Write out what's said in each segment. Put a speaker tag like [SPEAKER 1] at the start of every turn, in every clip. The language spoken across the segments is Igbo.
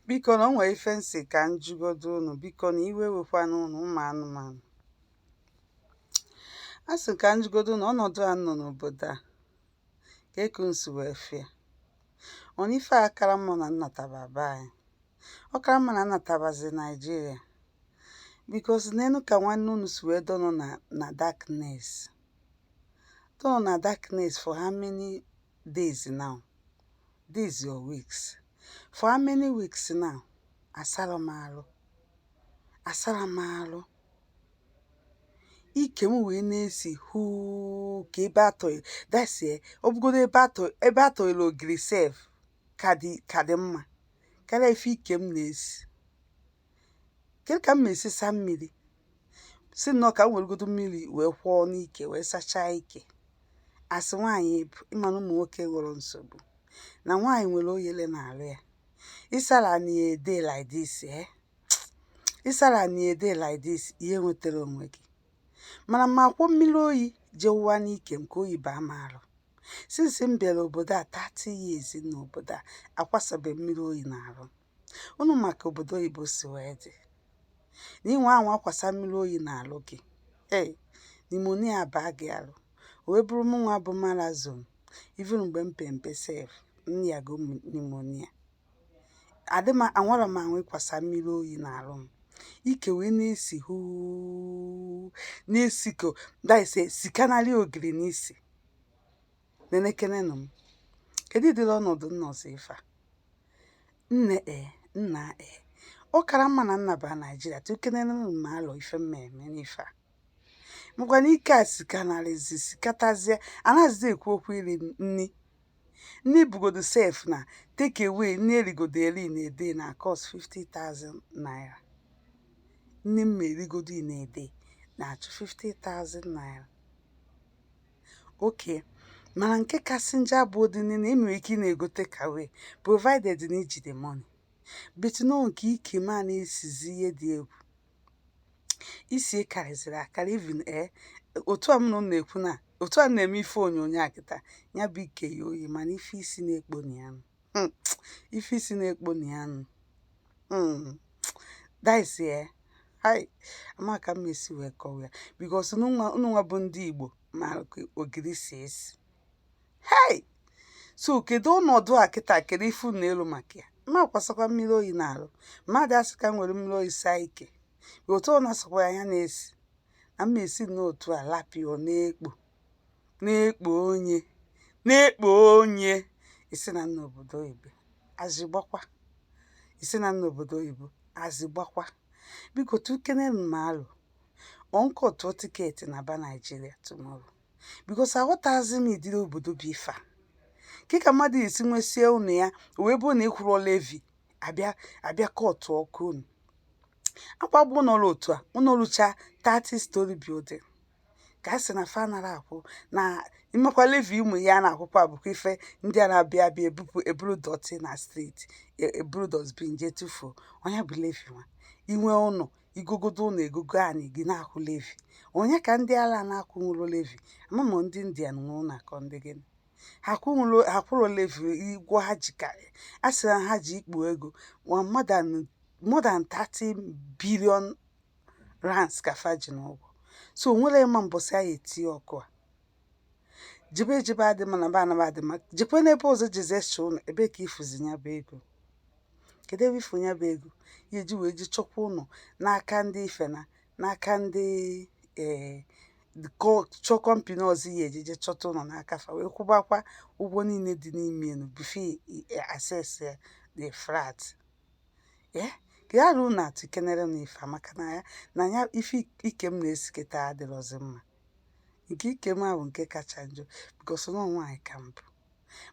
[SPEAKER 1] biko na o nwere ife m sị ka m jụgodu unu biko na iwe wekwana unu ụmụ anụmanụ a sị ka m jụgodu na ọnọdụ a nọ n'obodo a ka eku nsi wee fịa ọ na ife a kara mma na m nataba be anyị ọ kara mma na m natabazi naijiria because neenụ ka nwanne unu si wee dọnọ na na darkness dọnọ na darkness for how many days now days or weeks for how many weeks now asarọ m arụ asarọ m arụ ike m wee na-esi huu ka ebe atọghị dasie ọ bụgodo ebe atọ ebe atọghịla ogiri sef ka dị ka dị mma karịa ife ike m na-esi kedu ka m esi saa mmiri si nnọọ ka m weregodo mmiri wee kwọọ n'ike wee sachaa ike as nwaanyị m bụ ị ma na ụmụ nwoke enwerọ nsogbu na nwaanyị nwere oyele n'alụ ya ịsara na ya a day like this eh? ịsara na ya a day like this ihe nwetara onwe gị mana ma akwụ mmiri oyi jee wụwa n'ike m ka oyi baa m arụ since m bịara obodo a 30 years n'obodo a akwasabe m mmiri oyi n'arụ unu ma ka obodo oyibo si wee dị na ị nwaa anwa kwasa mmiri oyi n'alụ gị ee pneumonia abaa gị alụ wee bụrụ m nwa bụ marazon even mgbe m pe mpe sef m yago pneumonia adị m anwarọ m anwa ịkwasa mmiri oyi n'alụ m ike wee na-esi huu na-esi ka dise sikanarị ogiri n'isi nenekenenụ m kedu ụdịrị ọnọdụ m nọzi ife a nne e nna e ọ kara mma na m naba naijiria tụkenenụ m alo ife m eme n'ife a makwana ike a sikanarịzi sikatazie anaghịzi ekwu okwu iri nri nri bugodo sef na take away nri erigodo eri na a day na cost 50,000 naira nri m erigodo na a day na-achụ 50,000 naira okay mana nke kasị njọ abụ dị na ị nwere ike ị na-ego takeaway provided na i ji the money but na nke ike m a na-esizi ihe dị egwu isi karịzịrị akarị even ee otu a m na unu na-ekwu na otu a m na-eme ife onyonyo a kịta ya bụ ike ya oyi mana ife isi na-ekpo na ya nụ Hmm, ife isi na-ekpo na ya nụ Mm. That is eh. Hai. Ama ka m esi wee kọwa ya because unu nwa unu nwa bụ ndị Igbo ma ka ogiri si esi. Hey! So kedu ọnọdụ a kịta kedu ife unu ekwu maka ya? M akwasakwa mmiri oyi n'arụ. Mmadụ asị ka m were mmiri oyi saa ike. Otu ọ na-asakwa ya anya na-esi. Na m esi n'otu a lapịa ọ na-ekpo. na-ekpo onye na-ekpo onye isi na m nọ obodo oyibo azigbakwa ị sị na m nọ obodo oyibo azigbakwa biko tụkene m alo ọ m kọtụọ tiketi naba Nigeria tomorrow because aghọtazi m ụdịrị obodo bụ ife a kee ka mmadụ esi nwesie ụnọ ya wee bụrụ na ị kwụrọ levi abịa abịa kọtụ ọkụ ụnọ akwagbu ụlọ ru otu a ụlọ rucha 30 story building ka a sị na fa anarọ akwụ na imekwa levi ụmụ ya na-akwụkwa abụkwa ife ndị a na-abịa abịa ebupụ eburu dọtị na street e- eburu dustbin jee tụfuo ọ ya bụ levi nwa i nwe ụlọ i gogodo ụlọ egogo anyị gị na-akwụ levi ọ ya ka ndị ala na-akwụ nwụrụ levi ama m ndị india na nwụrụ na-akọ ndị gịnị ha akwụrọ ha akwụrọ levi ụgwọ ha ji karị a sị na ha ji ikpu ego nwa mmadụ anụ- more than 30 billion rands ka fa ji n'ụgwọ so onwerọ onye ma mbọsị a ya etinye ọkụ a jebe ejebe adị mma naba anaba adị mma jekwa n'ebe ọzọ jezi chọ ụnọ ebee ka ị fụzi ya bụ ego kedu ebe ị fụ ya bụ ego ya eji wee je chọkwa ụnọ n'aka ndị ife a n'aka ndị ee chọọ company ọzọ ya eji je chọta ụnọ n'aka fa wee kwụbakwa ụgwọ niile dị n'ime ụnọ before access the flat ee ya ruo na atụkenerenụ ife maka na ya na ya ife ike m na-esi kịta adịrọzi mma nke ike m a bụ nke kacha njọ because na ọ nwaanyị ka m bụ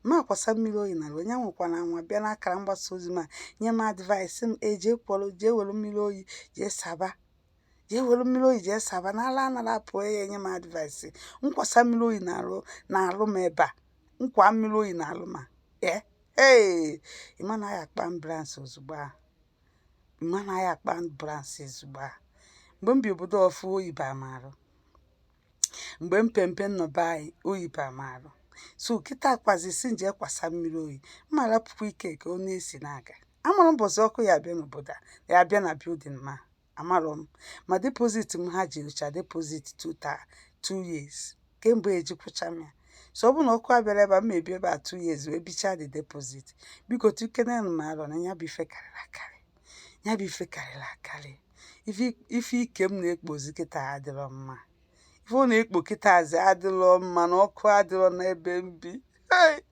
[SPEAKER 1] ma akwasa mmiri oyi na onye anwakwana anwa bịa n'akara mgbasa ozi m a nye m advice m eji ekworo jee were mmiri oyi jee saba jee were mmiri oyi jee saba na ala anarọ apụ ya enye m advice m kwasa mmiri oyi n'arụ n'arụ m ebe a m kwa mmiri oyi n'arụ m a ee ee ị ma na a ya akpọ ambulance ozugbo a ị ma na a ya akpọ ambulance ozugbo a mgbe m bi obodo ọfụ oyi ba m arụ mgbe mpempe nnọba anyị oyi ba m arụ so kịta a gwazi sị m je kwasa mmiri oyi mba rapụkwa ike ka ọ na-esi na-aga amarọ mbọsị ọkụ ya abịa n'obodo a ya abịa na building m a amarọ m ma deposit m ha ji rụcha deposit two taa two years kemgbe eji kwụcha m ya so ọ bụrụ na ọkụ abịarọ ebe a m ebi ebe a two years wee bichaa the deposit biko tụkenenụ m arọ na ya bụ ife karịrị akarị ya bụ ife karịrị akarị ife- ife ike m na-ekpozi kịta adịrọ mma ife ọ na-ekpo kịtazi adịrọ mma na ọkụ adịrọ n'ebe m bi Hey!